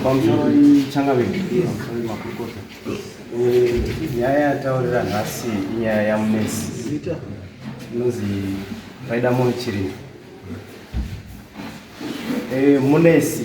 pamusoro changaviki makurukota nyaya yataurira nhasi inyaya yamunesi inonzi paida munhu chirimo munesi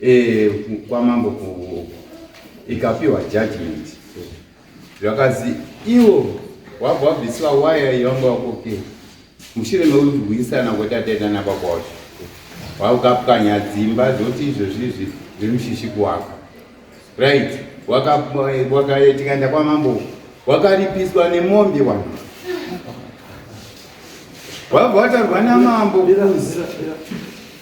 eh, kwamambo ku ikapiwa judgment zvakazi iwo wabva wabviswa waya yevanga wakoke mushure mekurwisana kwetataitana baba wacho wakapwanya dzimba dzoti izvozvizvi zviri mushishi kuwaka right wakaitikaenda kwamambo wakaripiswa nemombe wanu wabva watarwa namambo kuzi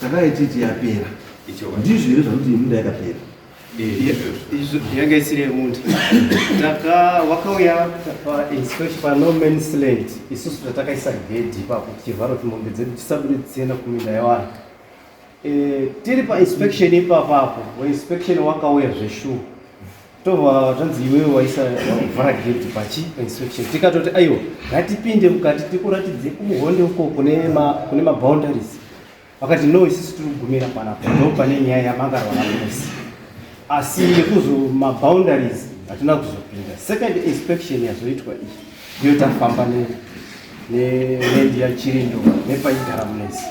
takaititi yapera ndizvo here zvakuti yemunda yakapera yanga isiri yemundu taka wakauya panomansland isusu tatakaisa gedhi ipapo tichivhara kuti mombe dzedu tisabude dzichienda kuminda yevanhu e, tiri painspection ipapapo wainspection wakauya zveshuwa tova zvanzi iwewe waisa vhara gate pachi inspection tikatoti aiwa ngatipinde mukati tikuratidze kumuhonde uko kune ma kune ma boundaries vakati no isisi tiri kugumira panapa ndo pane nyaya yamangarwa namusi asi nekuzo ma boundaries hatina kuzopinda second inspection yazoitwa iyi ndiyo tafamba ne ne nendi ya chirindo nepaigara munesi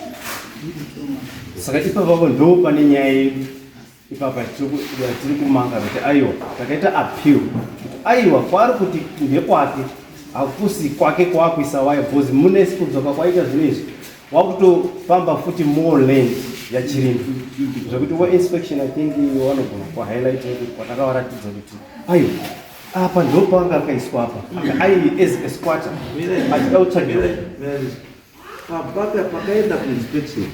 saka ipavavo ndo pane nyaya yedu ipapa tiri kumanga kuti aiwa takaita appeal kuti aiwa kwaari kuti ndekwake hakusi kwake kwakuisa waya bcoz mune kudzoka kwaita zvinhu izvi wakutofamba futi more land yachirimo zvekuti weinspection i think wanogona kuhighlight kuti kwatakavaratidza kuti aiwa apa ndopanga akaiswa apa ai as a squatter achida kutsvagira pakaenda kuinspection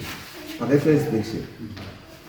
pakaitwa inspection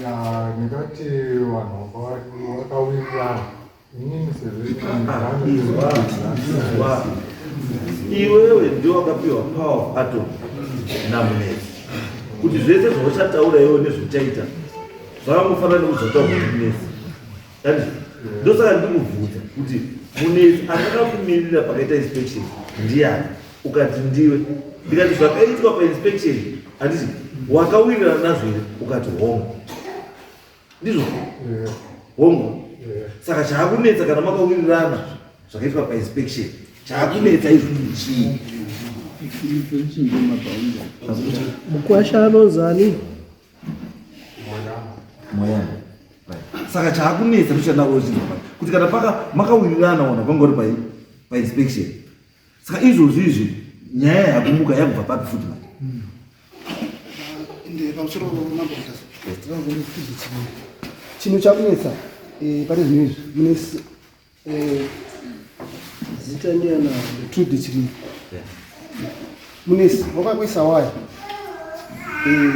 Yeah, ndingati vanhu vakawirirana inini iwewe ndiwo wakapiwa power of atom namunetsi kuti zvese zvauchataura iwe nezvauchaita zvakangofanira nekuzotaura kuti munetsi Dadi, ndosaka ndikubvunza kuti munetsi akakakumirira pakaita inspection ndiyani ukati ndiwe ndikati zvakaitwa painspection handiti wakawirirana nazvo here ukati hongu ndizvo Yeah, hongu yeah. saka chaakunetsa kana makawirirana zvakaitwa painspection chaakunetsa izvo chii Mukwasha anonzani? saka chaakunetsa ndochanda kuchinzwa pai kuti kana paka makawirirana ona kwangori pai painspection saka izvozvi izvi nyaya yakumuka yakubva papi futi mai hmm. chinhu chakunetsa eh, pane zvinhu izvi Eh, zita ndiana trude chiri munesi wakakuisa waya eh,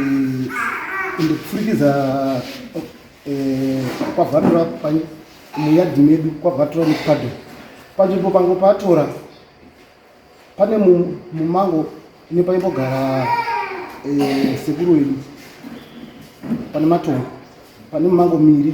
ende kupfurikidza eh, kwavhatura muyadhi medu kwavhatura nepado panzvimbo pango patora pane mumango ine paimbogara sekuru wedu pane matongo pane mumango miri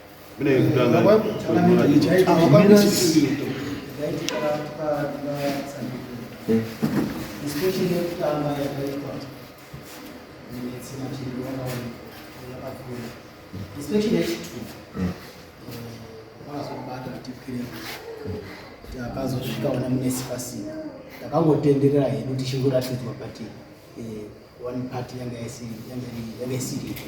akazosvika ona munesi pasina takangotenderera hedu tichingoratidzwa but eh, one part yanga isiripo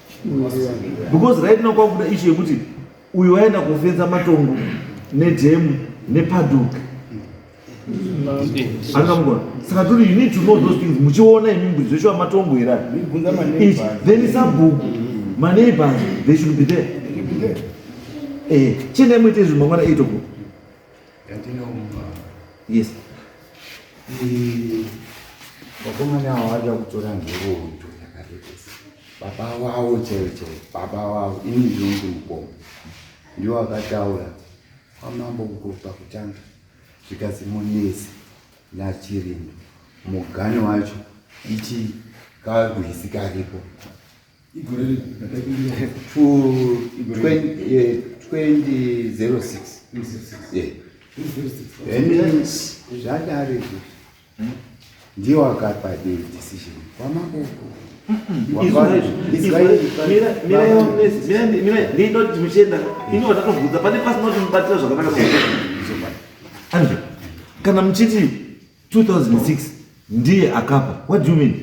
because right now kwakuda ishu yekuti uyu waenda kofenza matongo nedhemu nepaduk angamugona saka turi you need to know those things muchiona imi mbuzi zveshuwa matongo here then sabhuku maneighbors they should be there eh, chenai muite izvi mangwana 8 o'clock yandinomupa yes vakomana avo vari vakutora nhoroondo yakarekesa baba wavo chaivo chaivo baba wavo ini ndinonzi mukoma ndiwo vakataura kwamambo kukopa kutanga zvikazi munesi nachirimo mugani wacho ichi kakuhisi karipo igore rino ndakaikumbira fu- Igore. 20, eh, 2006 yeah. Then zvadare izvi ndiye wakapa the decision kwamakoko ndinoti muchienda ini vatakabvunza pane pasina kuti mubatira zvakanaka Andre, kana muchiti 2006 ndiye akapa what do you mean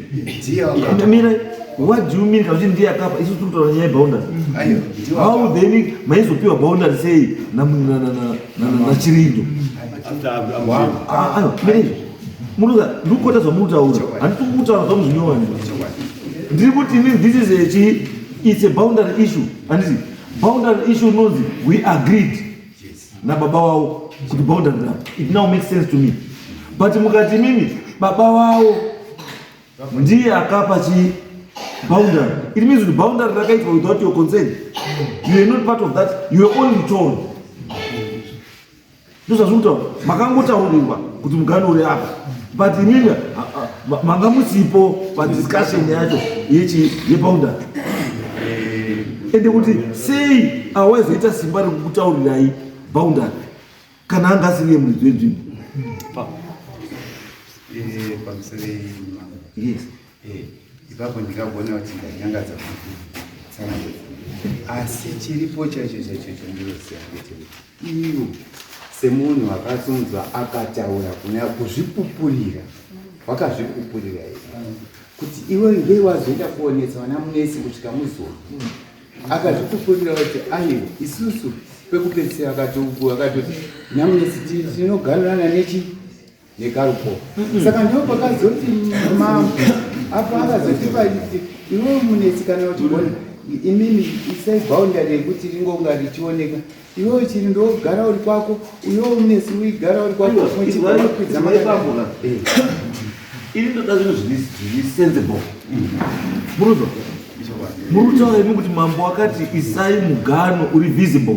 ndiye akapa mira what do you mean kuti ndiye akapa isu tiri kutaura nyaya yeboundary how then maizopiwa boundary sei na na na na na chirindo ayo mira izvo muruza ndikukota zvamutaura handiti kutaura zvamuzvinyowani ndiri kuti inini this is a chi it's a boundary issue handiti boundary issue unonzi we agreed nababa wavo kuti boundary now it now makes sense to me but mukati mimi baba wavo ndiye akapa chii boundary it means kuti boundary rakaitwa without your consent you are not part of that you are only told ndozvazviri kutaura makangotaurirwa kuti mugano uri apa but imimi manga musipo padiscussion yacho yechi yepaunda ende kuti sei awaizoita simba rekukutaurirai boundary kana anga asiri yemuridzi wenzvimbo yes ipapo ndikagona kuti ndanyangadza asi chiripo chaicho chaicho chandinoziva ndechekuti Ivo semunhu akasunzwa akataura kunyaya kuzvipupurira wakazvipupurira here kuti iwe ngei wazoenda kuonesa vana munesi kusvika muzoa akazvipupurira kuti aiwa isusu pekupedzisira akatoti namunesi tinoganirana nechi negarpo saka ndiwo pakazoti mambo apo akazoti paiti iwe munetsi kana uchigona imimi isai boundary yekuti ringonga richioneka iwewe chiri ndogara uri kwako uyo unesi uigara uri kwako muchikwidza makaipamoa eh. ini ndoda zvinhu zviri sensible muruzo murutaura imi kuti mambo akati isai mugano uri visible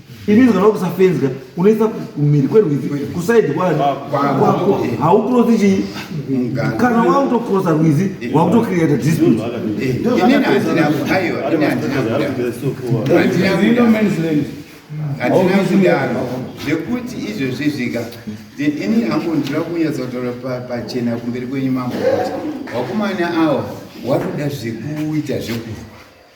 Inizwa kana ukusafenzwa unoisa kumhiri kwerwizi kusaidi kwani kwako haukurosi chii kana wakutokurosa rwizi wakutocreata dispute hatina kudaro zvekuti izvozvi zvika then ini hangu ndira kunyatsa kutaura pachena kumberi kwenyu mambo kuti wakomana awa wakuda zvekuita zvekufa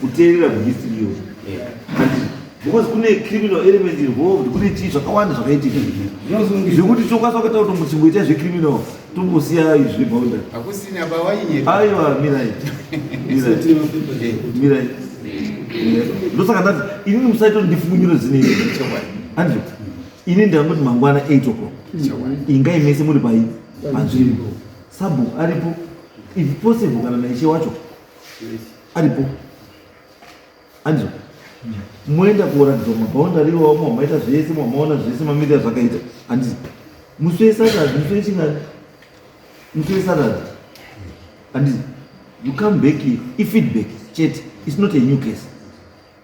kuteerera kuhistory iyo because kune criminal element involved kune chii zvakawanda zvakaitika zvekuti chokwaso akaita kuti muchimboita zvecriminal tombosiya izvi bounda hakusina pawainyepa aiwa mirai mirai ndosaka ndati inini musaito ndifungunyiro zine andrew ini ndangoti mangwana 8 o'clock ingai mese muri pai panzvimbo sabhu aripo if possible kana naishe wacho aripo anzwa moenda kuoratidzwa mabhaunda riwo mamaita zvese mamaona zvese mamiri azvakaita handizi musi wesatadzi musi wechingani musi wesatadzi handizi you come back here ifeedback chete its not a new case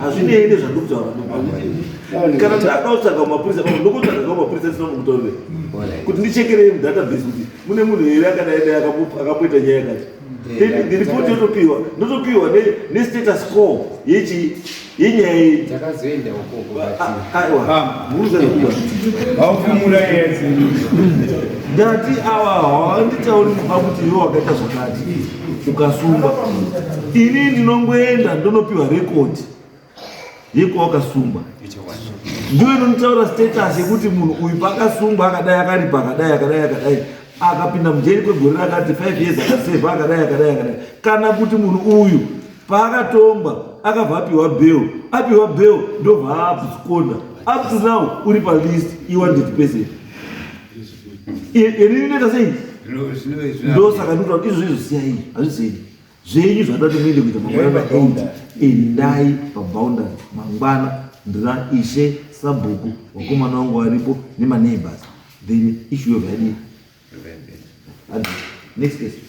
hazvinei nezvandokutaura kana ndada kutsvaga mapurisa ndokutsvaga ka mapurisa tisina mukutaurire kuti ndichekerei mudatabase kuti mune munhu here akadai dai akapoita nyaya yakati ndiripoti yotopiwa ndotopiwa nestatus call yechii inyaya dzakazoenda ukoko aufumura yese ndati awa hawanditauri kuba kuti iwe wakaita zvakati ukasumba ini ndinongoenda ndonopiwa rekodi yekuwa wakasumba ndiwe inonitaura status yekuti munhu uyu paakasumba akadai akaripa akadai akadai akadai akapinda mujeri kwegore rakati five years akaseva akadai akadai akadai kana kuti munhu uyu paakatongwa akabva apiwa bel apiwa bel ndobva aabsconda up to now uri palist iwanted person ini ndinoita sei ndosaka ndikuta izvo izvo siyai hazvisei zvenyu zvatoda kuti muende kuita mangwana maenda endai paboundary mangwana ndina ishe sabhuku wakomana wangu varipo nemaneighbors then issue of idea next question